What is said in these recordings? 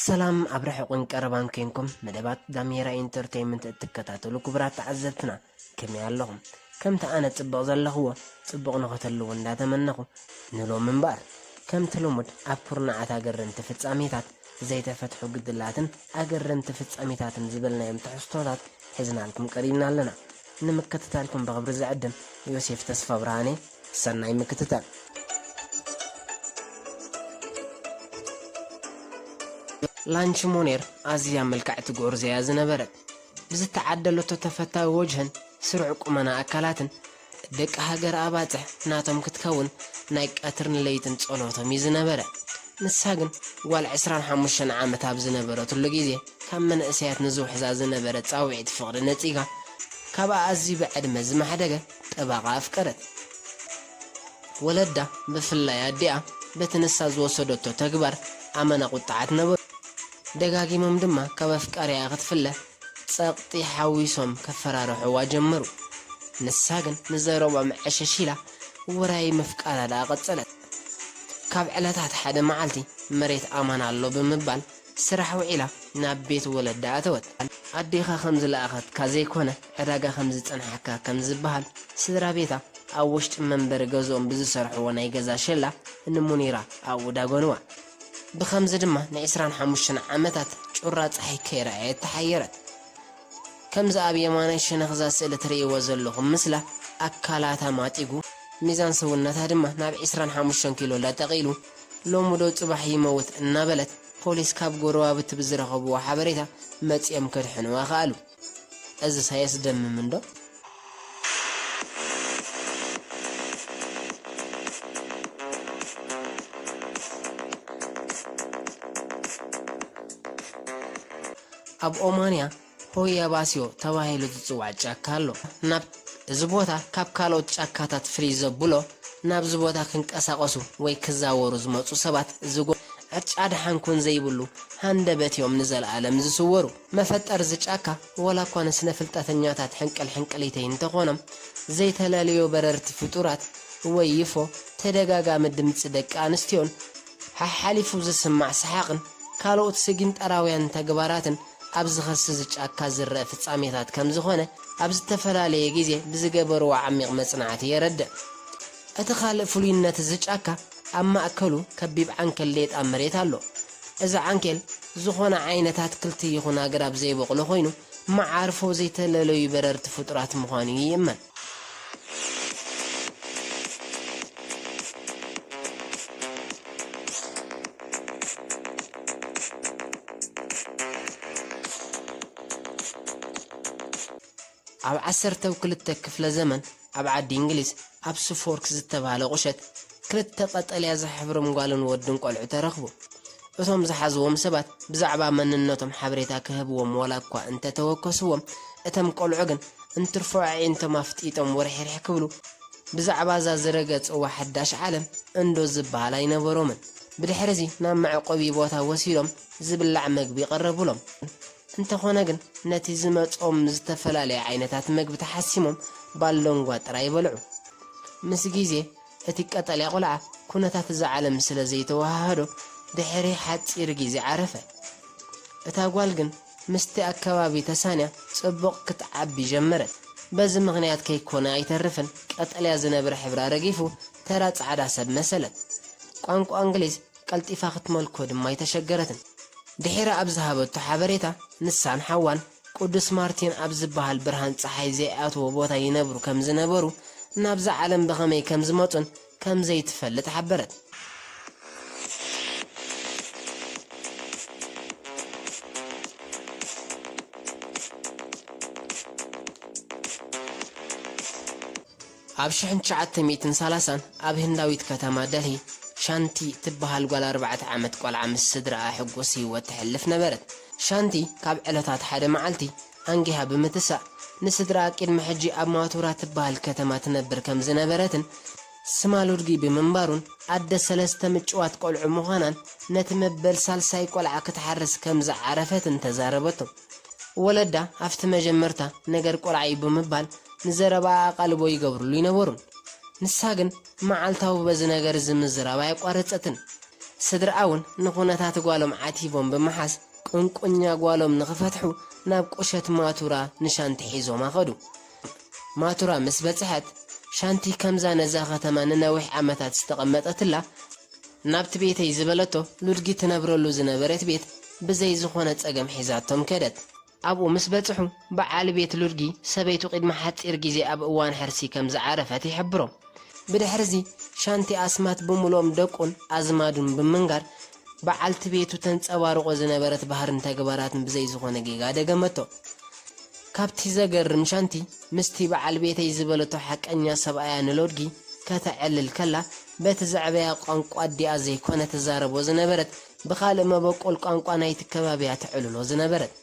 ሰላም ኣብ ርሕቑን ቀረባን ኮንኩም መደባት ዳሜራ ኢንተርተይመንት እትከታተሉ ክቡራት ተዓዘብትና ከመይ ኣለኹም? ከምቲ ኣነ ጽብቕ ዘለኽዎ ጽቡቕ ንኸተልዎ እንዳተመነኹ ንሎም እምበር ከምቲ ልሙድ ኣብ ኩርናዓት ኣገረምቲ ፍጻሜታት ዘይተፈትሑ ግድላትን ኣገረምቲ ፍጻሜታትን ዝበልናዮም ትሕዝቶታት ሒዝናልኩም ቀሪብና ኣለና። ንምክትታልኩም ብኽብሪ ዝዕድም ዮሴፍ ተስፋብርሃን'የ። ሰናይ ምክትታል። ላንቺ ሞኔር ኣዝያ ምልክዕቲ ጎርዞ'ያ ዝነበረት። ብዝተዓደለቶ ተፈታዊ ወጅህን ስሩዕ ቁመና ኣካላትን፣ ደቂ ሃገር ኣባጽሕ ናቶም ክትከውን ናይ ቀትርን ለይትን ጸሎቶም'ዩ ዝነበረ። ንሳ ግን ጓል ዕስራን ሓሙሽተን ዓመት ኣብ ዝነበረትሉ ግዜ፣ ካብ መንእሰያት ንዝውሕዛ ዝነበረ ጻውዒት ፍቕሪ ነጺጋ፣ ካብ ኣኣዝዩ ብዕድመ ዝማሕደገ ጠባቓ ኣፍቀረት። ወለዳ፣ ብፍላይ ኣዲኣ፣ በቲ ንሳ ዝወሰደቶ ተግባር ኣመና ቁጥዓት ነበሩ። ደጋጊሞም ድማ ካብ ኣፍቃሪኣ ክትፍለ ጸቕጢ ሓዊሶም ከፈራርሑዋ ጀመሩ። ንሳ ግን ንዘረብኦም ዕሽሽ ኢላ ውራይ ምፍቃራ ደኣ ቀጸለት። ካብ ዕለታት ሓደ መዓልቲ መሬት ኣማን ኣሎ ብምባል ስራሕ ውዒላ ናብ ቤት ወለዳ ኣተወት። ኣዴኻ ከም ዝለኣኸትካ ዘይኮነ ዕዳጋ ከም ዝጸንሓካ ከም ዝበሃል፣ ስድራ ቤታ ኣብ ውሽጢ መንበሪ ገዝኦም ብዝሰርሕዎ ናይ ገዛ ሸላ ንሙኒራ ኣብኡ ዳጎንዋ። ብኸምዚ ድማ ንዕስራን ሓሙሽተን ዓመታት ጩራ ጸሓይ ከይረኣየት ተሓየረት። ከምዚ ኣብ የማናይ ሸነኽ'ዛ ስእሊ ትርእይዎ ዘለኹም ምስላ ኣካላታ ማጢጉ፣ ሚዛን ሰውነታ ድማ ናብ ዕስራን ሓሙሽተን ኪሎ ለጠቕ ኢሉ ሎሚዶ ፅባሕ ይመውት እናበለት ፖሊስ ካብ ጎረባብቲ ብዝረኸብዎ ሓበሬታ መፂኦም ከድሕንዋ ከኣሉ። እዝስ ኣየስደምምን ዶ? ኣብ ኦማንያ ሆየባስዮ ተባሂሉ ዝጽዋዕ ጫካ ኣሎ። ናብ እዚ ቦታ ካብ ካልኦት ጫካታት ፍልይ ዘብሎ፣ ናብዚ ቦታ ክንቀሳቐሱ ወይ ክዛወሩ ዝመጹ ሰባት ዝጎ ዕጫ ደሓን ኩን ዘይብሉ ሃንደበት እዮም ንዘለኣለም ዝስወሩ። መፈጠር እዚ ጫካ ዋላኳ ንስነ-ፍልጠተኛታት ሕንቅልሕንቅሊተይ እንተኾኖም፣ ዘይተለለዮ በረርቲ ፍጡራት ወይ ዩፎ፣ ተደጋጋሚ ድምጺ ደቂ ኣንስትዮን ሓሓሊፉ ዝስማዕ ሰሓቕን ካልኦት ስጊንጠራውያን ተግባራትን ኣብ ዝኸሲ እዚ ጫካ ዝረኣ ፍጻሜታት ከም ዝኾነ ኣብ ዝተፈላለየ ግዜ ብዝገበርዎ ዓሚቕ መጽናዕቲ የረድእ። እቲ ካልእ ፍሉይነት እዚ ጫካ ኣብ ማእከሉ ከቢብ ዓንኬል ሌጣ መሬት ኣሎ። እዚ ዓንኬል ዝኾነ ዓይነት ኣትክልቲ ይኹን ኣግራብ ዘይቦቕሎ ኮይኑ መዓርፎ ዘይተለለዩ በረርቲ ፍጡራት ምዃኑ ይእመን። ኣብ ዓሰርተው ክልተ ክፍለ ዘመን ኣብ ዓዲ እንግሊዝ ኣብ ሱፎርክ ዝተባህለ ቁሸት ክልተ ቀጠልያ ዝሕብሮም ጓልን ወድን ቆልዑ ተረኽቡ። እቶም ዝሓዝዎም ሰባት ብዛዕባ መንነቶም ሓበሬታ ክህብዎም ዋላኳ እንተ ተወከስዎም፣ እተም ቆልዑ ግን እንትርፎ ኣዒንቶም ኣፍጢጦም ወርሒርሒ ክብሉ ብዛዕባ እዛ ዝረገጽዋ ሓዳሽ ዓለም እንዶ ዝበሃል ኣይነበሮምን። ብድሕሪዚ ናብ መዕቆቢ ቦታ ወሲዶም ዝብላዕ መግቢ ቀረቡሎም። እንተኾነ ግን ነቲ ዝመጽኦም ዝተፈላለየ ዓይነታት መግቢ ተሓሲሞም ባሎንጓ ጥራይ በልዑ። ምስ ግዜ እቲ ቀጠልያ ቈልዓ ኵነታት እዛ ዓለም ስለ ዘይተወሃሃዶ ድሕሪ ሓጺር ግዜ ዓረፈ። እታ ጓል ግን ምስቲ ኣከባቢ ተሳንያ ጽቡቕ ክትዓቢ ጀመረት። በዚ ምኽንያት ከይኰነ ኣይተርፍን ቀጠልያ ዝነብር ሕብራ ረጊፉ ተራ ጻዕዳ ሰብ መሰለት። ቋንቋ እንግሊዝ ቀልጢፋ ክትመልኮ ድማ ኣይተሸገረትን። ድሒራ ኣብ ዝሃበቶ ሓበሬታ ንሳን ሓዋን ቅዱስ ማርቲን ኣብ ዝበሃል ብርሃን ጸሓይ ዘይኣትዎ ቦታ ይነብሩ ከም ዝነበሩ፣ ናብዛ ዓለም ብኸመይ ከም ዝመጹን ከም ዘይትፈልጥ ሓበረት። ኣብ ሽሕን ትሽዓተ ሚእትን ሰላሳን ኣብ ህንዳዊት ከተማ ደልሂ፣ ሻንቲ ትበሃል ጓል ኣርባዕተ ዓመት ቆልዓ ምስ ስድራኣ ሕጉስ ህይወት ተሕልፍ ነበረት። ሻንቲ ካብ ዕለታት ሓደ መዓልቲ ኣንጊሃ ብምትሳእ፣ ንስድራኣ ቅድሚ ሕጂ ኣብ ማቱራ ትበሃል ከተማ ትነብር ከም ዝነበረትን ስማ ሉድጊ ብምንባሩን ኣደ ሰለስተ ምጭዋት ቆልዑ ምዃናን ነቲ መበል ሳልሳይ ቆልዓ ክትሓርስ ከም ዝዓረፈትን ተዛረበቶ። ወለዳ ኣብቲ መጀመርታ ነገር ቆልዓ'ዩ ብምባል ንዘረባኣ ኣቓልቦ ይገብርሉ ኣይነበሩን። ንሳ ግን መዓልታዊ በዚ ነገር እዚ ምዝራብ ኣየቋረጸትን። ስድርኣ'ውን ንኩነታት ጓሎም ዓቲቦም ብምሓዝ ቁንቁኛ ጓሎም ንክፈትሑ ናብ ቁሸት ማቱራ ንሻንቲ ሒዞማ ከዱ። ማቱራ ምስ በጽሐት፣ ሻንቲ ከምዛ ነዛ ከተማ ንነዊሕ ዓመታት ዝተቐመጠትላ ናብቲ ቤተይ ዝበለቶ ሉድጊ ትነብረሉ ዝነበረት ቤት ብዘይ ዝኾነ ጸገም ሒዛቶም ከደት። ኣብኡ ምስ በጽሑ፣ በዓል ቤት ሉድጊ ሰበይቱ ቂድሚ ሓጺር ግዜ ኣብ እዋን ሕርሲ ከም ዝዓረፈት ይሕብሮም። ብድሕርዚ፣ ሻንቲ ኣስማት ብምሉኦም ደቁን ኣዝማዱን ብምንጋር በዓልቲ ቤቱ ተንጸባርቖ ዝነበረት ባህርን ተግባራትን ብዘይ ዝኾነ ጌጋ ደገመቶ። ካብቲ ዘገርም ሻንቲ፣ ምስቲ በዓል ቤተይ ዝበለቶ ሓቀኛ ሰብኣያ ንሎድጊ ከተዕልል ከላ፣ በቲ ዘዕበያ ቋንቋ ኣዲኣ ዘይኮነ ትዛረቦ ዝነበረት፣ ብኻልእ መበቆል ቋንቋ ናይቲ ከባቢ'ያ ተዕልሎ ዝነበረት።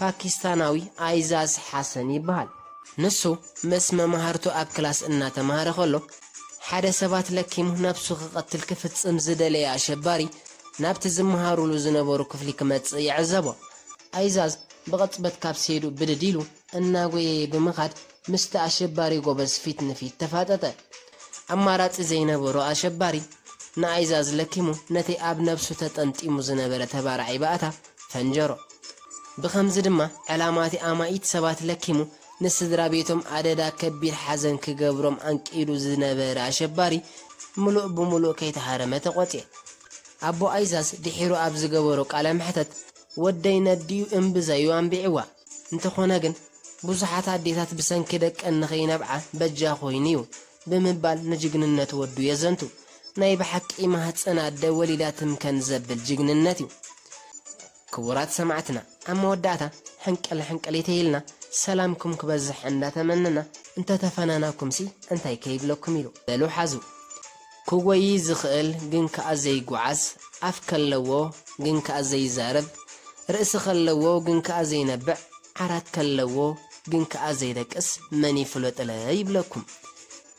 ፓኪስታናዊ ኣይዛዝ ሓሰን ይበሃል። ንሱ ምስ መማህርቱ ኣብ ክላስ እናተማህረ ከሎ፣ ሓደ ሰባት ለኪሙ ነብሱ ክቐትል ክፍጽም ዝደለየ ኣሸባሪ ናብቲ ዝመሃሩሉ ዝነበሩ ክፍሊ ክመጽእ ይዕዘቦ። ኣይዛዝ ብቕጽበት ካብ ሴድኡ ብድድ ኢሉ እናጎየየ ብምኻድ ምስቲ ኣሸባሪ ጎበዝ ፊት ንፊት ተፋጠጠ። ኣማራጺ ዘይነበሮ ኣሸባሪ ንኣይዛዝ ለኪሙ ነቲ ኣብ ነብሱ ተጠምጢሙ ዝነበረ ተባራዒ ባእታ ፈንጀሮ። ብኸምዚ ድማ ዕላማ'ቲ ኣማኢት ሰባት ለኪሙ ንስድራቤቶም ኣደዳ ከቢድ ሓዘን ክገብሮም ኣንቂዱ ዝነበረ ኣሸባሪ ምሉእ ብምሉእ ከይተሃረመ ተቖጽየ። ኣቦ ኣይዛዝ ድሒሩ ኣብ ዝገበሮ ቃለ መሕተት ወደይ ነዲኡ እምብዛ'ዩ ኣንቢዕዋ፣ እንተኾነ ግን ብዙሓት ኣዴታት ብሰንኪ ደቀን ንኸይነብዓ በጃ ኮይኑ'ዩ ብምባል ንጅግንነት ወዱ የዘንቱ። ናይ ብሓቂ ማህጸን ኣደ ወሊዳ ትምከን ዘብል ጅግንነት እዩ። ክቡራት ሰማዕትና ኣብ መወዳእታ ሕንቅል ሕንቅሊተይ ኢልና ሰላምኩም ክበዝሕ እንዳ ተመነና እንተ ተፈናናኩምሲ እንታይ ከይብለኩም ኢሉ። በሉ ሓዙ። ክጎዪ ዝኽእል ግን ከኣ ዘይጎዓዝ፣ ኣፍ ከለዎ ግን ከኣ ዘይዛረብ፣ ርእሲ ከለዎ ግን ከኣ ዘይነብዕ፣ ዓራት ከለዎ፣ ግን ከኣ ዘይደቅስ መን ይፍለጥለ ይብለኩም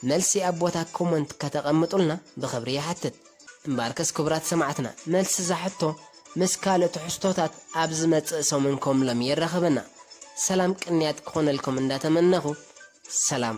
መልሲ ኣብ ቦታ ኮሞንት ከተቀምጡልና ብክብሪ ይሓትት እምበኣርከስ ክቡራት ሰማዕትና መልሲ እዛ ሕቶ ምስ ካልእ ትሕዝቶታት ኣብ ዝመጽእ ሰሙን ከምሎሚ የራክበና ሰላም ቅንያት ክኮነልኩም እንዳተመነኩ ሰላም።